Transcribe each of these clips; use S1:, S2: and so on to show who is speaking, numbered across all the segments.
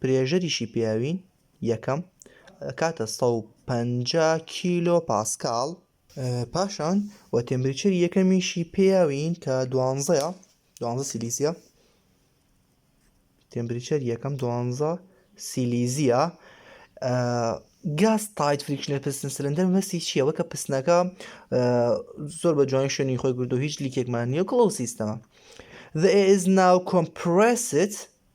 S1: پرێژەریشی پیاوین یەکەم ئەکاتە سەد و پەنجا کیلۆ پاسکاڵ، پاشان و تێمپریچەری یەکەمیشی پیاوین کە دوانزەیە دوانزە سیلیزیە تێمپریچەری یەکەم دوانزە سیلیزیە گاز تایت فریکشنە پستن سلندەر مەسی چییە وەکە پستنەکە زۆر بە جوانی شوێنی خۆی گردو هیچ لیکێکمان نیە کڵەو سیستەمە The is now compressed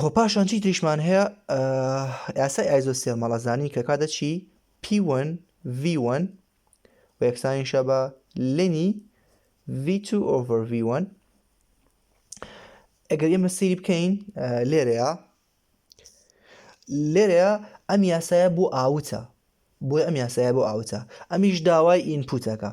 S1: هۆ پاشان چی تریشمان هەیە یاسای ئایزۆ سێ مەڵەزانی کە کاتە چی P1 V1 و یەکسانی شە بە لێنی V2 over V1 ئەگەر ئێمە سری بکەین لێرەیە لێرەیە ئەم یاسایە بۆ ئاوتە بۆی ئەم یاسایە بۆ ئاوتە ئەمیش داوای ئینپوتەکە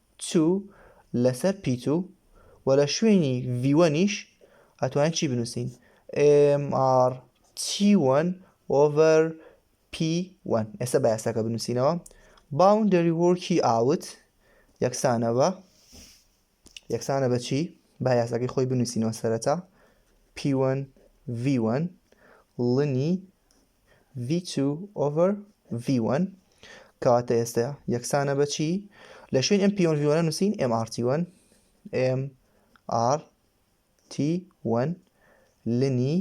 S1: چوو لەسەر پی توو و لە شوێنی ڤی وەنیش ئەتوانین چی بنووسین ئێم ئاڕ تی وەن ئۆڤەر پی وەن ئێستا بە یاساکە بنووسینەوە باوندەری وۆرکی ئاوت یەکسانە بە یەکسانە بە چی با یاساکەی خۆی بنووسینەوە سەرەتا پی وەن ڤی وەن ڵنی ڤی توو ئۆڤەر ڤی وەن کەواتە ئێستا یەکسانە بەچی لە شوێن ئەم پیۆن ڤیوەنە نووسین ئەم ئارتی وەن ئێم ئار تی وەن لنی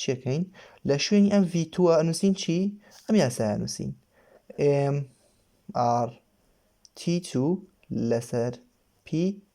S1: چیەکەین لە شوێنی ئەم ڤیتووە نووسین چی ئەم یاسایە نووسین ئێم ئار تی تو لەسەر پی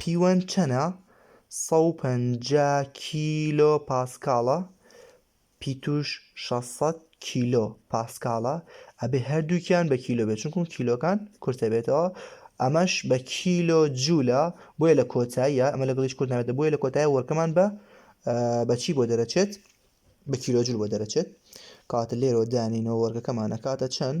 S1: پیوەند چەنە؟ سەد و پەنجا کیلۆ پاسکاڵە پیتوش شەش سەد کیلۆ پاسکاڵە ئەبێ هەردووکیان بە کیلۆ بێت چونکم کیلۆکان کورتە بێتەوە ئەمەش بە کیلۆ جوولە بۆیە لە کۆتاییە ئەمە لەگەڵیش کورت نابێتە بۆیە لە کۆتایە وەرکەمان بە بەچی بۆ دەرەچێت بە کیلۆ جوول بۆ دەرەچێت کاتە لێرەوە دانینەوە وەرگەکەمان ئەکاتە چەند